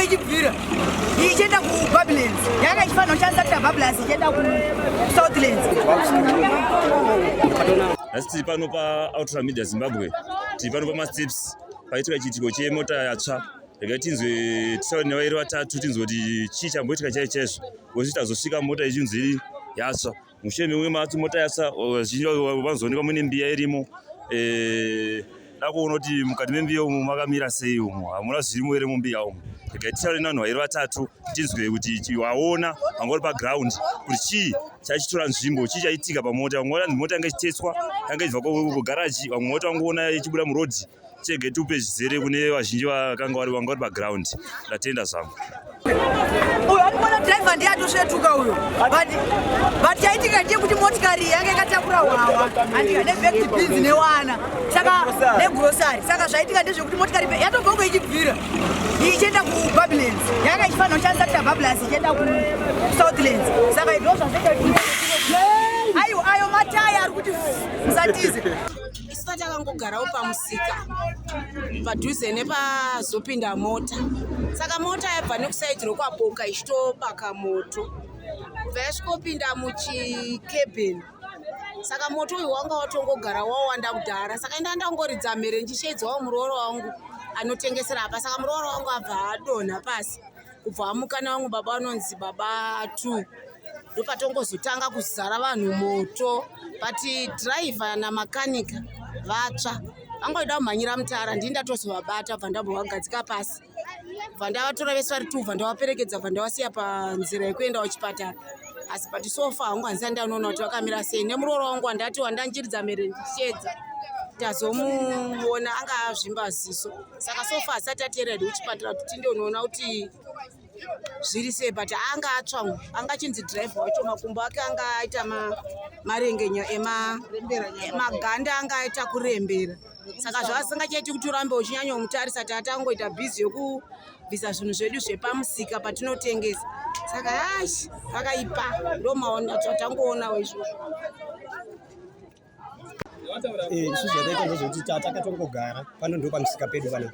ichibvira ichienda kubablands yanga ichifanira kushandisa tira bablands ichienda kusouthlands asi tiri pano paoutra media zimbabwe tiri pano pamasteps paitika chiitiko chemota yatsva rega tinzwe tisauri nevairi vatatu tinzwe kuti chii chamboitika chai chaizvo kozi tazosvika mota ichinzi yatsva mushure memwe matsi mota yasa vazhinji vanozoonekwa muine mbiya irimo eh, dakuona kuti mukati membiya umo makamira sei umo hamuna zvirimo here mumbiya umo regai titaure nevanhu vairi vatatu tinzwe kuti waona vanga uri paground kuti chii chaichitora nzvimbo chii chaitika pamota vamwe vati mota yanga ichitetswa yanga ichibva kugaraji vamwe mota vangoona ichibuda murodhi chege tiupe zvizere kune vazhinji vakanga vari vanga vari paground ndatenda zvangu uyo akumona driver ndiye atosvetuka uyo but chaitika ndiye kuti motikari yange ikatakura hwawa andika nebekti bins newana saka negrosari saka zvaitika ndezvekuti motikari yatogongo ichibvira ichienda kubablands yanga ichifanira kushandisa tia bablands ichienda kusouthlands saka izvo zvazvaita aiwa ayo mataya ari kuti musatize Saka takangogarawo pamusika padhuze nepazopinda mota. Saka mota yabva nekusaidhi rokwaboka ichitobaka moto. Kubva yasvikopinda muchikebheni. Saka moto uyu wanga watongogara wawanda kudhara. Saka inda ndangoridza mhere ndichishedzawo muroora wangu anotengesera apa. Saka muroora wangu abva adonha pasi. kubva amukana vamwe baba vanonzi baba two ndopatongozotanga kuzara vanhu moto but driver namakanika vatsva vangoida kumhanyira mutara ndii ndatozovabata bva ndambovagadzika pasi bva ndavatora vese vari two bva ndavaperekedza bva ndavasiya panzira yekuenda kuchipatara asi but sofa hangu handisa ndanoona kuti vakamira sei nemuroora wangu wandati wandanjiridza mhere ndichedza tazomuona anga azvimba ziso saka so far asati ateera ed kuchipatara kuti tinde unoona kuti zviri sei but anga atsva anga achinzi drive wacho makumbo ake anga aita marengenya emaganda anga aita kurembera saka zvaasingachaiti kuti urambe uchinyanya umutarisa ti atangoita bhizi yekubvisa zvinhu zvedu zvepamusika patinotengesa saka ash vakaipa ndomaona tatangoona weizvozvo Eh, isu zvataita ndezvekuti takatongogara pano ndo pamusika pedu pana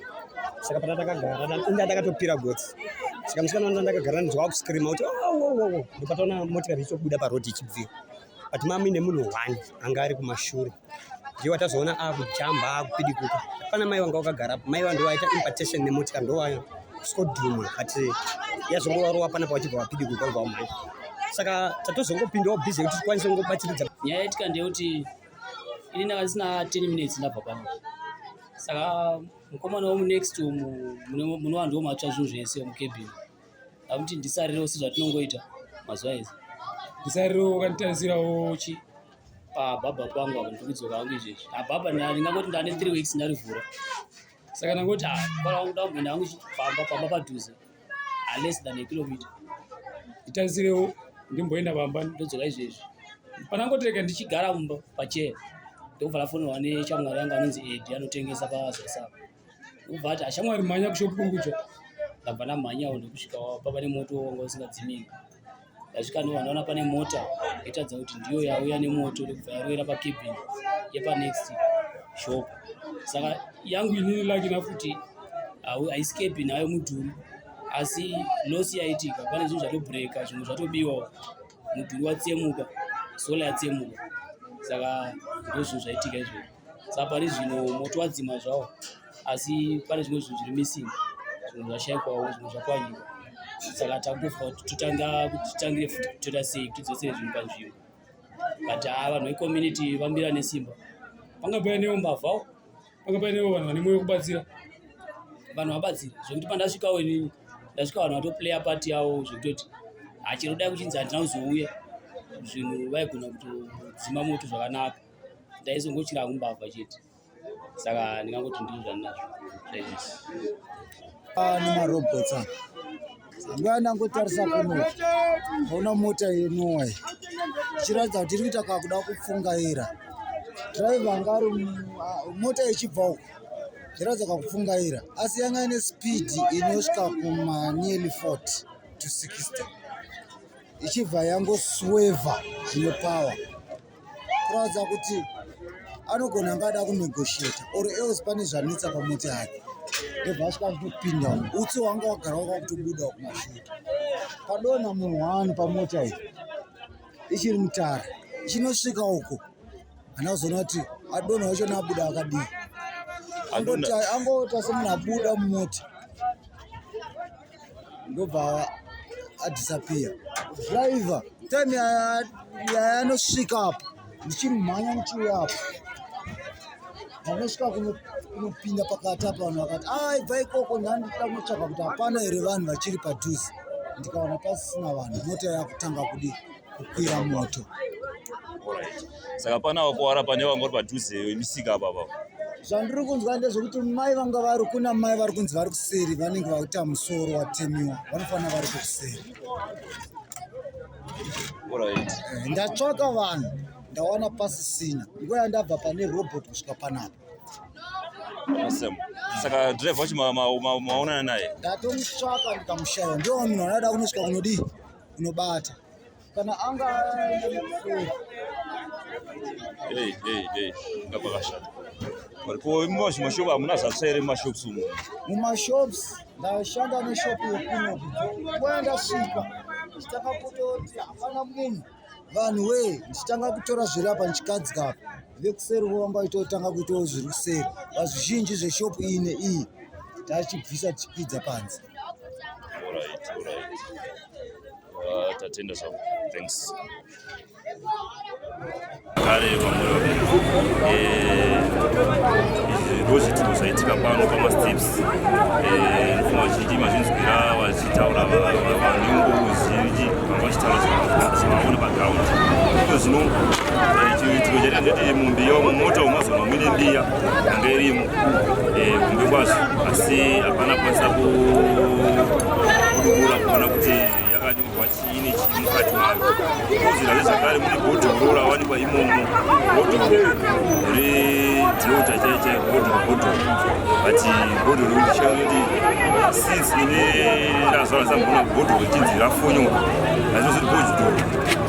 saka pana takagara inda takatopira gotsi saka musikana wanda ndakagara ndinzwa wakuscreama kuti owowowo oh, ndopataona motikari ichobuda paroad ichibvira but mami nemunhu one anga ari kumashure ndiye watazoona akujamba akupidikuka pana mai wanga wakagara mai wandowaita impartation nemotikari ndowaya skodhuma but yazongorova panapa vachibva vapidi kukwaiva vamai saka tatozongopindawo busy kuti tikwanise kungobatsiridza nyaya yaitika ndeyekuti ini ndanga ndisina 10 minutes ndabva pano saka mukomana womunext umu munova ndomatsva zvinhu zvese mukebhini amuti ndisarirewo sezvatinongoita mazuva ese ndisarirewo wakanditarisirawo chi pababa pangu apa ndikudzoka hangu izvezvi ababa ndingangoti ndane three weeks ndarivhura saka ndangoti ah, mubara wangu ndakumboenda hangu chifamba pamba padhuze aless ah, than akilomita nditangisirewo ndimboenda pamba ndodzoka izvezvi panangotireka ndichigara mumba pachee ndokubva lafonirwa nechamwari yangu anonzi edi anotengesa pazasava ndokubva ati ashamwari ah, mhanya kushopu kuri kutsva ndabva ndamhanyawo ndokusvika papa nemoto wanga usingadzimiki Ndasvika ndobva ndaona pane mota yatadza kuti ndiyo yauya nemoto ndokubva yaroera pacabin yepanext shop saka yangu inini laki nafuti haisi cabin hayo mudhuri asi losi yaitika pane zvinhu zvatobreaka zvimwe zvatobiwawo mudhuri watsemuka sola yatsemuka saka ndozvinhu zvaitika izvozvo sa pari zvino moto wadzima zvawo asi pane zvimwe zvinhu zviri missing zvinhu zvashaikwawo zvinhu zvakwanyika saka takutofa kuti totanga kuti titangire futi kutoita sei kuti dzosere zvinhu panzvimbo but haa ah, vanhu vecommunity vambira nesimba panga painewo mbavhawo panga painewo vanhu vane mwoyo kubatsira vanhu vabatsira zvekuti pandasvikawo inini ndasvika vanhu vatoplaya pati yavo zvekutoti hachirodai ah, kuchinzi handina kuzouya zvinhu vaigona kutodzima moto zvakanaka ndaizongochira hangu mbavha chete saka ndingangoti ndiri zvandinazvo zvaizvisi ah, nemarobots apa nguva ndangotarisa kuno ona mota yenuwa ichiratidza kuti iri kuita kakuda kupfungaira driver anga ari ah, mota ichibva uko ichiratidza kakupfungaira asi yanga ine speed inosvika kumanearly 40 to 60 ichibva yangosweva zvine power kuratidza kuti anogona anga ada kunegosheta or else pane zvanetsa pamoti hake ndobva asvika zvitopinda utsi wanga wagara waka kutobuda kumashure padona munhu wani pamota iyi ichiri mutara ichinosvika uko hana kuzoona kuti adona wacho naabuda akadii angoita semunhu abuda mumota ndobva adisappear driver time yayanosvika apo ndichimhanya ndichiuya apo vanosvika kunopinda pakati apa vanhu vakati a ah, ibva ikoko ndandida kunotsvaga kuti hapana here vanhu vachiri padhuze ndikaona pasisina vanhu mota yakutanga kudi kukwira moto saka pana vakuwara pane vanga vari padhuze imisika apapa zvandiri kunzwa ndezvekuti mai vanga vari kuna mai vari kunzi vari kuseri vanenge vakuita musoro watemiwa vanofanira vari kuseri eh, ndatsvaka vanhu ndawana pasisina nguva yandabva pane robot kusvika panapa saka drive wacho maonana naye ndatomutsvaka ndikamushaiwa ndiwo munhu anoda kunosvika kunodii kunobata kana anga hey hey hey ngapakashata variko imba zvimashopu hamuna zvatsvaire mumashops umo mumashops ndashanda neshopu yekuno kuya ndasvika ndichitanga kutoti hapana munhu vanhu wee ndichitanga kutora zviri apa ndichikadzika apa vekuseri vovanga itotanga kuitawo zviri kuseri vazvizhinji zveshopu iyi neiyi tachibvisa tichipidza panze Alright, alright. Uh, tatenda zvangu. Thanks. Kare vamwe eh ndozvi tino zvaitika pano pama steps eh ndino vazhinji mazvinzwira vachitaura vanengo vazhinji vanga vachitaura zvavaona pa ground. Ndozvino eh chiro chaitika ndechekuti mumbiya mumota umazono mwine mbiya Hunde irimo eh, hunde kwazvo asi hapana kwanisa kudubura kuona kuti yakanyorwa chii nechii mukati mayo kozira zvakare mune bhodhoro rawanikwa imomo bhodhoro redhota chaicha bhodhoro bhodhoro but bhodhoro richanoti since ine razvara zambona bhodhoro richinzi rafonyoka azvinozoti bhodhoro